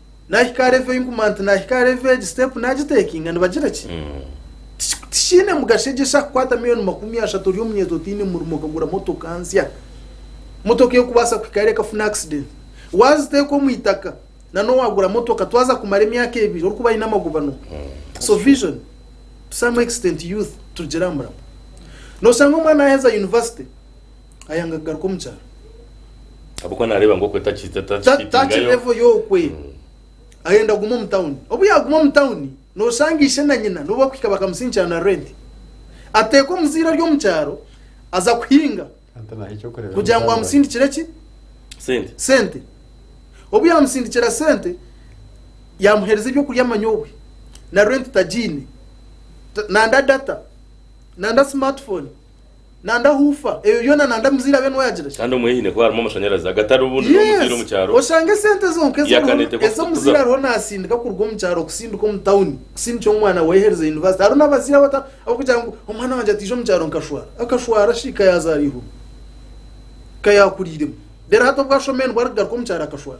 nahika aha level eyinkumanya nti nahika aha level egi step nagitekinga nibagira ki Tiki- tikiine mugasho egi eshaka kukwata miliyoni makumi ashatu ori omunyeeto otaine murimo okagura motoka nsya motoka erikubaasa kuhika hare ekafuna accident waziteeka omu itaka nanobu wagura motoka twaza kumara emyaka ebiri orikuba aine amagobano so vision to some extent youth turugyere aha murimo noshanga omwana yaheza university ayanga kugaruka omu kyaro ahabw'okuba naareeba ngu okwe taki- ta- Ta- taki takifitingayo. level y'okwe ayenda kuguma omu tawuni obu yaaguma omu tawuni noshanga ishe na nyina nibo bakuhika bakamusingikira na renti ateeka omuzaire ari omu kyaro aza kuhinga Ante naho ekyokureeba kugira ngu amusindikire ki sente sente obu yamusindikira sente yamuheereza ebyokurya manya obwe na renti tagiine Ta- nanda data nanda smartphone nanda huufa ebyo byona nanda muzaire abe nuwe yagira shi. Kandi omu hiine kuba harimu amashanyarazi agatari obundi n'omuzaire Yes! omu kyaro. Oshange esente zonka ezi Yakane oriho tekwa ezi omuzaire kukuza. ariho nasindika kuruga omu kyaro kusindika omu tawuni kusindikira omwana we yaherize yunivasite. Hariho n'abazaire abata abakugira ngu omwana wangye ataija omu kyaro nkashwara. Akashwara shi ka yazaara eihuruma? Ka yakuriiremu? Reero hati obu ashomire nibwo arikugaruka omu kyaro akashwara?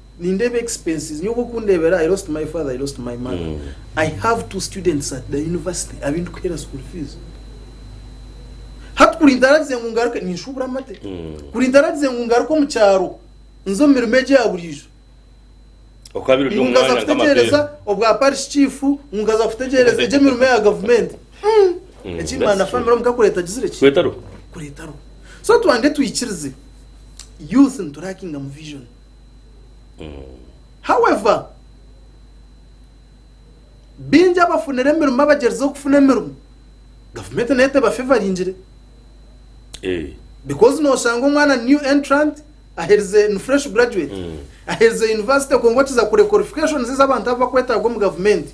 nindeeba expenses nyowe obokundebera i lost my father i lost my mother mm. i have two students at the university abindikuhera school fees hati kuri ntaragize ngu ngaruke ninshubura amate mm. kuri ntaragize ngu ngaruke omu kyaro nze omu mirimo egya buriijo ngungaza kutegereza obwa parish chief ngungaza kutegereza egyemirimo ya gavumenti mm. ekimana famire omuka kuretagizire ki kuretaro so twange twikirize youth niturakinga mu vision However, baingi abafunire emirimo abagyerizire kufuna emirimo, gavumenti nayo tebafevaringire. Eh. Because noshanga omwana new entrant aherize ni fresh graduate. Aherize university kwonka okiza kure qualifications ezi abantu abu bakwetaaga omu gavumenti.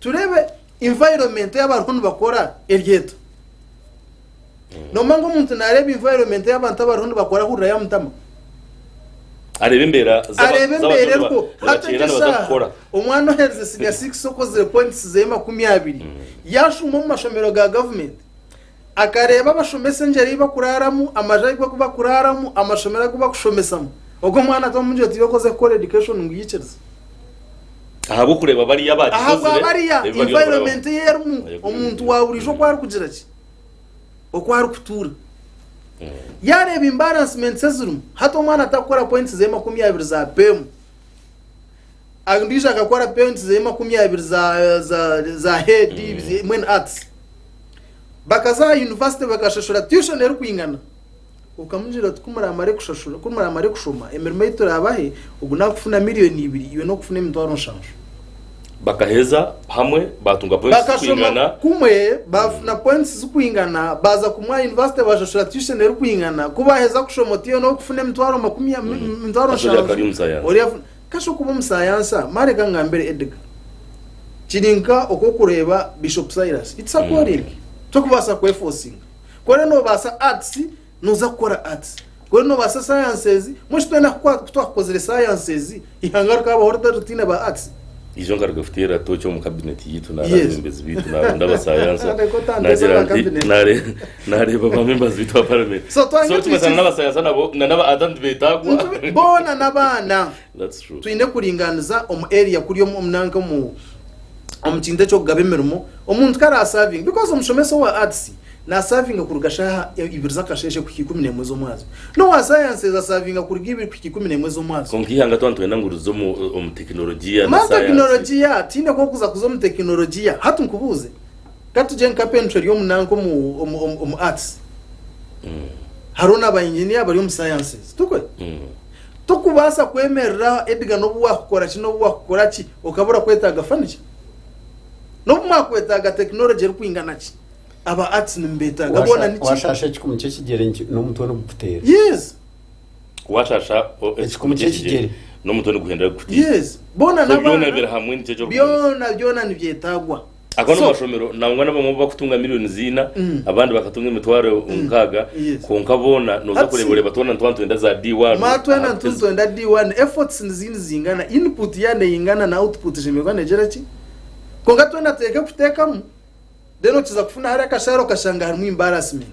Tureebe environment ei abariho nibakora eryeto. Nomanya ngu omuntu naareeba environment ei abantu abariho nibakora ahurira yamutama. Areeba embeera z'aba- Areeba z'abantu embeera niba- eriho. Hati nibakyenda egi nibaza eshaaha kukora. omwana oheerize siniya 6 okozire points zeye makumi abiri, yaashuma omu mashomero ga gavumenti. Akareeba abashomesa engyeri ei bakuraaramu, amaju agu bakuraaramu, amashomero agu bakushomesamu. Ogwo mwana ati omu ngyeri tibe okoze kukora education ngu yikirize. Ahabw'okureeba bariya abaagikuzire, Ahabwa bariya ebi bariyo nibarabwamu. environment ei erimu, Aye kuri omuntu biri. wa buriijo oku arikugira ki? Oku arikutuura. Yaareeba imbalancements ezirimu, hati omwana atarikukora points ze makumi abiri za peemu. Ondiijo akakora penti ze makumi abiri za, za, za head mm. mwene arts bakaza aha university bakashashura tuition erikwingana okamugira oti kumuramare kushashura kumuramare kushoma emirimo ei turabahe ogu nakufuna miliyoni ibiri iwe nokufuna emitwaro nshanju bakaheza hamwe batunga points zikwingana kumwe bafuna mm. points zikwingana baza kumwa university bashashura tuition erikwingana kubaheza kushoma otiyo nokufuna emitwaro makumi mm. emitwaro nshanju Ka shokuba omusayansa, ma reka ngambire Edgar. Kiri nka oku okureeba Bishop Silas. It's a calling. Tokubaasa kwefosinga. Ku ori nobaasa arts, noza kukora arts. Ku ori nobaasa sciences, mbwenu shi twena ku twakukozire sciences, ihanga rikabaho rita ritaine ba arts? Ijo nkaruga kuteera tooki omu cabinet yaitu nari Yes. abebembezi baitu naronda abasayansa. Reka otandise Nagira aba nti, cabinet. nare- Nareeba ba members baitu ba parliament. So twanye So tugasana twisize. n'abasayansa nabo na n'aba Adam tibetagwa. Nitubi- boona n'abaana That's true. twine kuringaniza omu area kuri omu omu nanka omu omu kintu eky'okugaba emirimo omuntu kare asavinga because omushomesa owa arts nasavinga kuruga shaha e- ibiri z'akasheeshe kuhika ikumi n'emwe z'omwazyo n'owa sciences asavinga kuruga ibiri kuhika ikumi n'emwe z'omwazyo Kwonka ihanga twa nitwenda ngu rize omu omu tekinologiya na mani science. tekinologiya tiine kwokuza kuza omu tekinologiya hati nkubuuze Ka tugye nka Penutra eri omu nanka omu, omu, omu, omu arts. Hariho na ba engineer bari omu sciences. Tukwe? Tokubaasa kwemerera Edgar n'obu waakukora ki n'obu waakukora ki okabura kwetaaga furniture. N'obu mwakwetaaga technology erikwingana ki, aba arts nimubeetaaga boona Washa- niki. washasha ekikumi ky'ekigyere niki- n'omutwe nigukuteera Yes, Washasha o- Ekikumi ky'ekigyere. n'omutwe niguhendera kukuteera. yes. Boona So byona n'abaana. biri hamwe nikiija orikuguruza. Byona, byona nibyetaagwa. Ago So- n'amashomero nangwa n'abamwe bakutunga millions ina Mm. abandi bakatunga emitwaro nkaaga Yes. kwonka boona noza Hati- kureeba oreeba twona nitwa nitwenda za D1 Ma twena aha- ntuntu twenda D1 efforts nizi nizingana input ya neyingana na output eshemererwa negyera ki kwonka twena teeka ekutekamu then okiza kufuna hari akashaara okashanga harimu embarrassment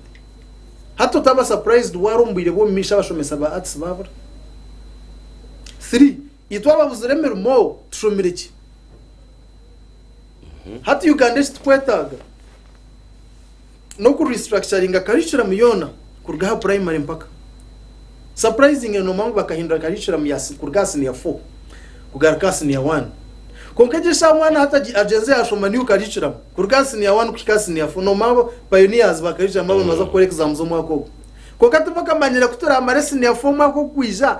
hati otaba surprised wari omu bwire bw'omumaisho abashomesa ba arts babura 3 Itwe ababuzire emirimo tushomire ki? Hati Uganda eki tukwetaaga n'oku restructuringa curriculum yoona kuruga aha primary mpaka surprisingly noomanya ngu bakahindura curriculum ya si- kuruga aha senior 4 kugaruka aha senior 1 kwonka egi eshaaha omwana hati agi- agyenze yaashoma new curriculum kuruga aha senior 1 kuhika aha senior 4 noomanya abo pioneers ba curriculum abo nibaza kukora exam z'omwaka ogu kwonka tibakamanyire ku turaamare senior 4 omwaka ogwija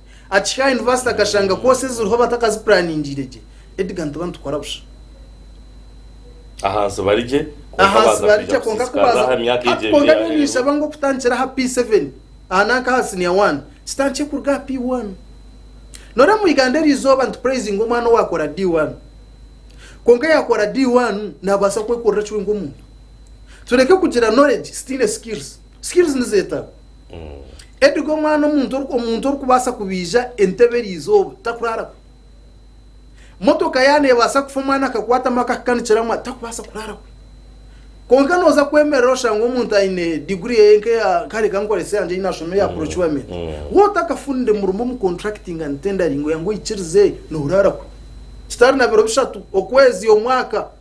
Akihika aha yunivasite akashanga koosi eziriho batakazipuraningiire gye. Edgar nituba nitukora busha. Ahansi bari gye, kwonka Ahansi baaza bari kwija gye kwonka ku kusiisikaza baaza aha myaka egyo hati ebiri kwonka nyowe yaaheeru. ninshaba ngu okutandikira aha P7 aha nanka aha siniya wani kitandikye kuruga aha P1. Noreeba mu Iganda eri izooba nitupureezinga omwana owaakora D1. Kwonka yaakora D1 naabaasa kwekorera eki we nk'omuntu. Tureke kugira knowledge, sitaine skills. Skills nizeetarwa. Edgar omwana omuntu oru- omuntu orikubaasa kubaija entebe eri izooba takuraara kwe. Motoka yaaba neebaasa kufa omwana akakwatamu akahikanikira mwa takubaasa kuraara kwe. Kwonka nooza kwemerera oshange omuntu aine diguri eye nk'eya kare kankorese yangye ei naashoma eya procurement. Wowe otakafunire murimo omu contracting and tendering oya ngu oikirize noorara kwe. Kitari na biro bishatu, okwezi, omwaka,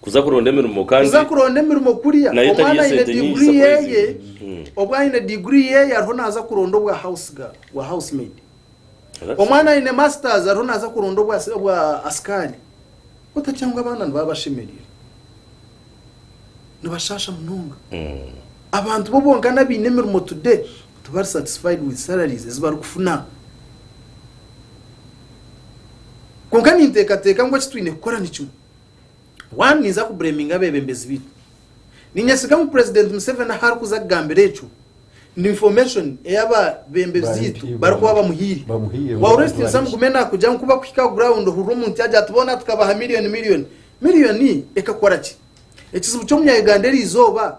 Kuza kuronda emirimo kandi. Kuza kuronda emirimo kuriya omwana aine diguri yeye, obu aine diguri yeye ariho naza kuronda obwa house girl, bwa house maid. Omwana aine masters ariho naza kuronda obwa obwa asikari. Otakira ngu abaana nibaba bashemerire? Nibashasha munonga. Abantu bo bonkana abaine emirimo today tibari satisfied with salaries ezi bari kufuna. Kwonka ninteekateeka ngu eki twine kukora ni kimwe, Waaba ninza kubureeminga abeebembezi baitu, niinyesiga ngu Purezidenti Museveni ahu arikuza kugambira ekyo, ni infomeshoni ei abeebembezi barikuba bamuhaire. Waurest Nsamugume naakugira ngu ku barikuhika aha gurawundi ohurira omuntu yaagira ati, Boona tukabaha milioni milioni. Milioni ekakora ki? Ekizibu ky'Omunya-Uganda eri izooba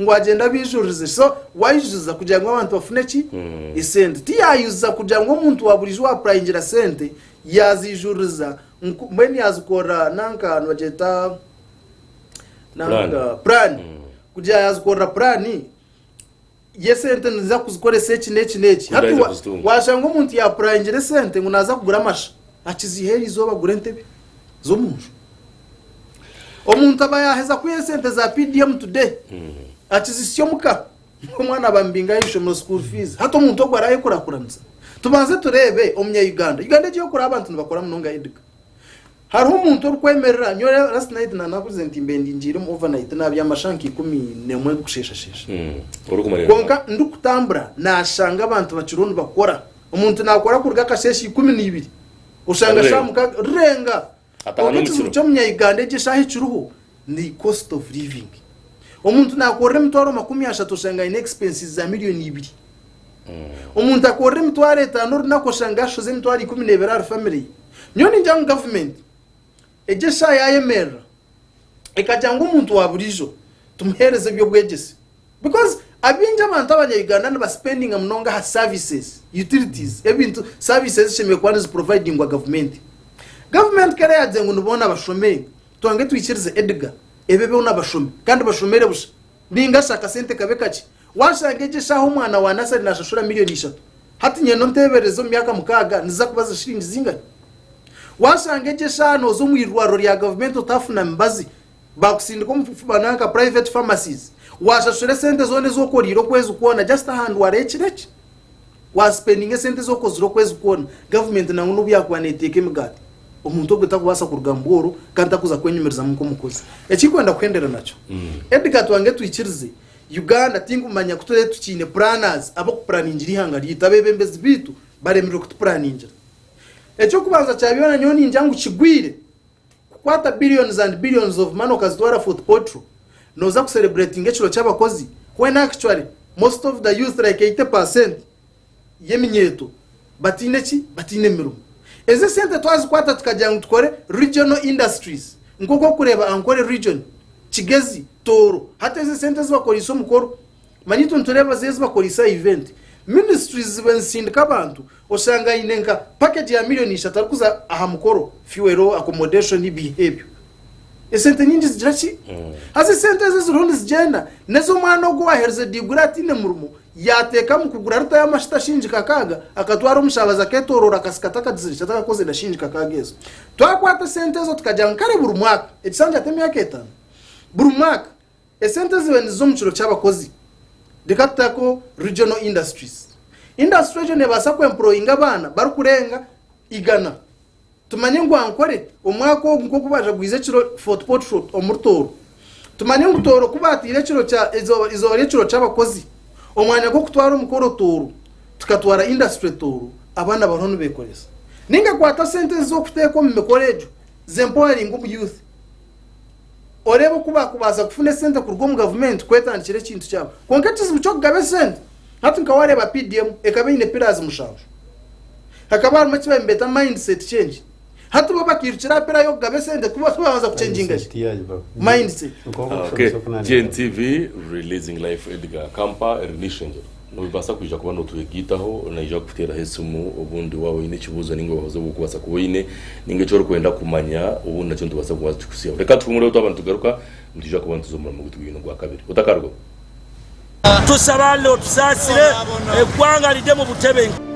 ngu agyende abaijuririze so waayujuza kugira ngu abantu bafune ki esente tiyaayujuza kugira ngu omuntu waaburiijo waapurayingira sente yaaziijuririza mbwenu yaazikorera nanka nibagyeta nanka puraani mm. kugira yaazikorera puraani y'esente niza kuzikoresa eki n'eki n'eki hati waashanga omuntu yaapurayingira esente ngu naaza kugura amasha akiziha eri izooba agura entebe z'omunju omuntu aba yaheza kwiha esente za pdm today akizisya omuka omwana abambinga y'ishomero school fees hati omuntu ogwo araye kurakuranisa tubanze turebe omunya uganda uganda egiye kura abantu nibakora munonga ediga hariho omuntu orukwemerera nyo last night na nakuze nti mbendi ngiire mu overnight nabya amashanka ikumi nemwe gusheshashesha mm. konka ndikutambura nashanga abantu bakiriho nibakora omuntu nakora kuruga akasheeshe ikumi n'ibiri oshanga shamuka renga Ataha Kwonka ekizibu n'omukiro. ky'Omunya-Uganda egi eshaaha ekiriho ni cost of living. Omuntu naakorera emitwaro makumi ashatu oshanga aine expenses za million ibiri. Omuntu akorera emitwaro etaano orunaku oshanga ashoza emitwaro ikumi n'ebiri ahari family ye. Nyowe ningira ngu government egi eshaaha yaayemerera ekagira ngu omuntu wa buriijo tumuheereze eby'obwegyese Because abingi abantu abanya Uganda niba spendinga munonga aha services, utilities, ebintu services ezishemereire kuba nizi providingwa gavumenti. Gavumenti ku era yagire ngu ni boona bashomee, tubange twikirize Edgar ebe boona bashomi kandi bashomere busha ninga shi akasente kabe kakye. Washanga egi eshaaha omwana wa nursery nashashura million ishatu, hati nyenda ontebereze omu myaka mukaaga niziza kuba ziri shilingi zingahi? Washanga egi eshaaha noza omu irwariro rya gavumenti otafuna mibazi bakusindika omu bifuba nanka private pharmacies washashura esente zona ezi okoriire okwezi kwona just aha ndwara y'ekiro eki wa spendinga esente ezi okozire okwezi kwona government nangwa n'obu yakuba neteeka emigaati omuntu ogwo takubaasa kuruga mu bworo kandi takuza kwenyumirizamu nk'omukozi eki nkwenda kuhendera nakyo Edgar tubange twikirize Uganda tinkumanya ku turaabe tukiine planners ab'okupuraningira eihanga ryaitu abeebembezi baitu baremirwe kutupuraningira eky'okubanza kya byona nyowe ningya ngu kigwire Kukwata billions and billions of money okazitwara foot potro noza ku celebratinga ekiro kyabakozi when actually most of the youth like 80 percent yeminyeeto bataine ki bataine mirimo ezi esente twazikwata tukagira ngu tukore regional industries nkoku okureeba Ankole region, kigezi, tooro hati ezi esente ezibakoreise omukoro Manya itwe nitureeba zi ezibakoreise aha event. Ministries ziba nizisindika abantu oshanga aine nka package ya million ishatu arikuza aha mukoro, fuel, accommodation ebiiha ebyo. Esente nyingi zigira ki? Haza esente ezo eziriho nizigyenda nezo omwana ogu owaherize diguri ataine murimo yateekamu kugura lita y'amashuta shilingi kakaaga akatwara omushaabazi aketoroora akasika atakagizire shi atakakoze na shilingi kakaaga ezo. Twakwata esente ezo tukagira ngu kare buri mwaka, ekisanja ti emyaka etaano, buri mwaka, Esente ezibe niziza omu kiro ky'abakozi. Reka tuteho regional industries. Industry egyo nebaasa ku employinga abaana barikurenga igana. Tumanye ngu Ankore omwaka ogu nk'oku bajagwize ekiro Fort Portal omuri Tooro. Tumanye ngu Tooro ku bateire ekiro kya eizooba eizooba ry'ekiro ky'abakozi, omwanya gw'okutwara omukoro Tooro, tukatwara industry Tooro, abaana bariho nibekoresa. Ninga kwata sente ezo oku teeka omu mikoro egyo, ze empoweringe omu youth. oreeba oku baakubaasa kufuna esente kuruga omu gavumenti kwetandikira ekintu kyabo kwonka ekizibu ky'okugaba esente hati nka waareeba PDM ekaba eine pillars mushanju hakaba harimu eki nibeeta mindset change hati bo bakairukira aha pillar y'okugaba esente kuba babanza kucenjinga ki mindset Okay. GNTV releasing life Edgar Kampa eri n'eishengyero. Noobaasa kwija kuba nootwegaitaho naija kukuteeraho esimu obundi waaba oine ekibuuzo nainga obuhabuzi obu orikubaasa kuba oine nainga eki orikwenda kumanya obundi nakyo nitubaasa kuba tukikutsigaho. Reka tuhumureho twaba nitugaruka nitwija kuba nituza omu muramwa gwaitu ogwa kabiri. Otakarugaho. Tusaba Allah otusaasire, eggwanga rirye mu butebenkevu.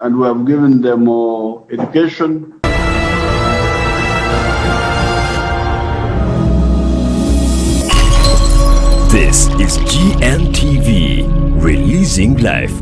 and we have given them education. This is GNTV, releasing life.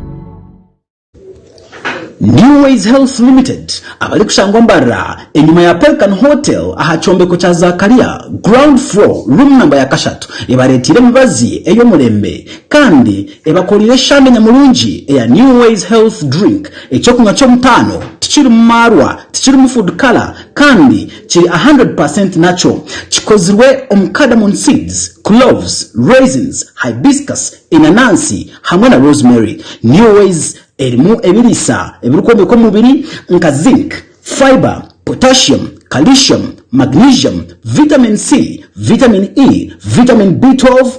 New Ways Health Limited abarikushangwa Mbarara enyima ya Pelican Hotel aha kyombeko kya Zakaria ground floor room namba ya kashatu ebareeteire emibazi ey'omurembe kandi Ebakoreire eshande nyamurungi eya New Ways Health Drink, eky'okunywa ky'omutaano, tikirimu maarwa, tikirimu food colour kandi kiri a hundred per cent natural. Kikozirwe omu cardamom seeds, cloves, raisins, hibiscus, enanansi hamwe na rosemary. New Ways erimu ebiriisa ebirikwombeka omubiri nka zinc, fibre, potassium, calcium, magnesium, vitamin C, vitamin E, vitamin B twelve,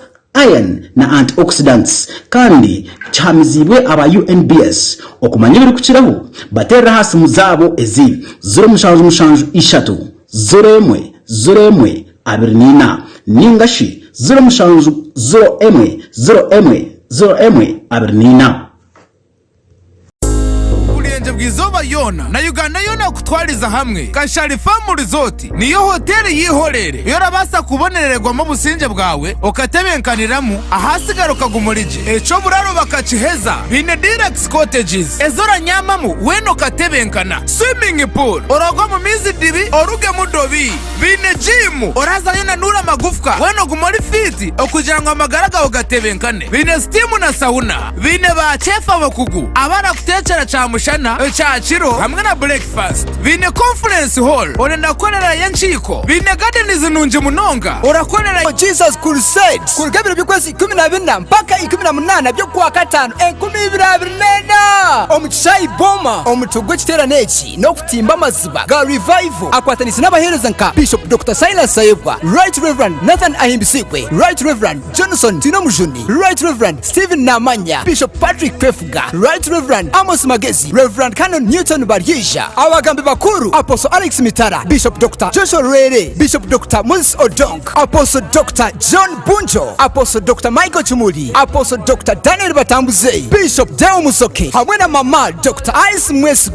iron na antioxidants, kandi kihamiziibwe aba UNBS okumanya ebirikukiraho bateerere aha simu zaabo ezi, ziro mushanju mushanju ishatu ziro emwe ziro emwe abiri na ina nainga shi ziro mushanju ziro emwe ziro emwe ziro emwe abiri na ina. Oburengye bw'eizooba ryona na Uganda yoona kukutwariza hamwe, Kashari Famu Rizooti niyo hoteeri yeihoreere ei orabaasa kubonerererwamu obusingye bwawe okatebenkaniramu ahaatsigara okaguma ori gye. Eky'oburaro bakakiheza baine deluxe cottages ezi oranyaamamu weena okatebenkana, swimming pool, orooge omu maizi dibi orugemu dobi. Baine jiimu, orazayo onanuura amagufwa, weena ogume ori fiiti okugira ngu amagara gaawe gatebenkane. Baine sitiimu na sauna. Baine ba cheefu abakugu abarakuteekyera kyamushana, ekyakiro hamwe na burekifaasiti. Baine konfurensi hoolo, orenda kukorerayo enkiiko. Baine gadenizi nungi munonga, orakorerayo. Jesus Crusades kuruga ebiro by'okwezi ikumi na bina mpaka ikumi na munaana by'okwakataano enkumi ibiri abiri n'ena omu kishaayi Boma. Omutwe gw'ekiteerane eki n'oku. Timba Amaziba ga Revival akwatanise n'abaheereza nka Bishop Doctor Silas Sayebwa, Right Rev. Nathan Ahimbisiibwe, Right Rev. Johnson Twinomujuni, Right Rev. Steven Namanya, Bishop Patrick Kwefuga, Right Rev. Amos Magezi, Rev. Canon Newton Baryeija, Abagambi Bakuru, Apostle Alex Mitara, Bishop Doctor Joshua Lwere, Bishop Doctor Moses Odong, Apostle Doctor John Bunjo, Apostle Doctor Michael Kimuli, Apostle Doctor Daniel Batambuze, Bishop Deo Musoke hamwe na Mama Doctor Alice Mwesigwa.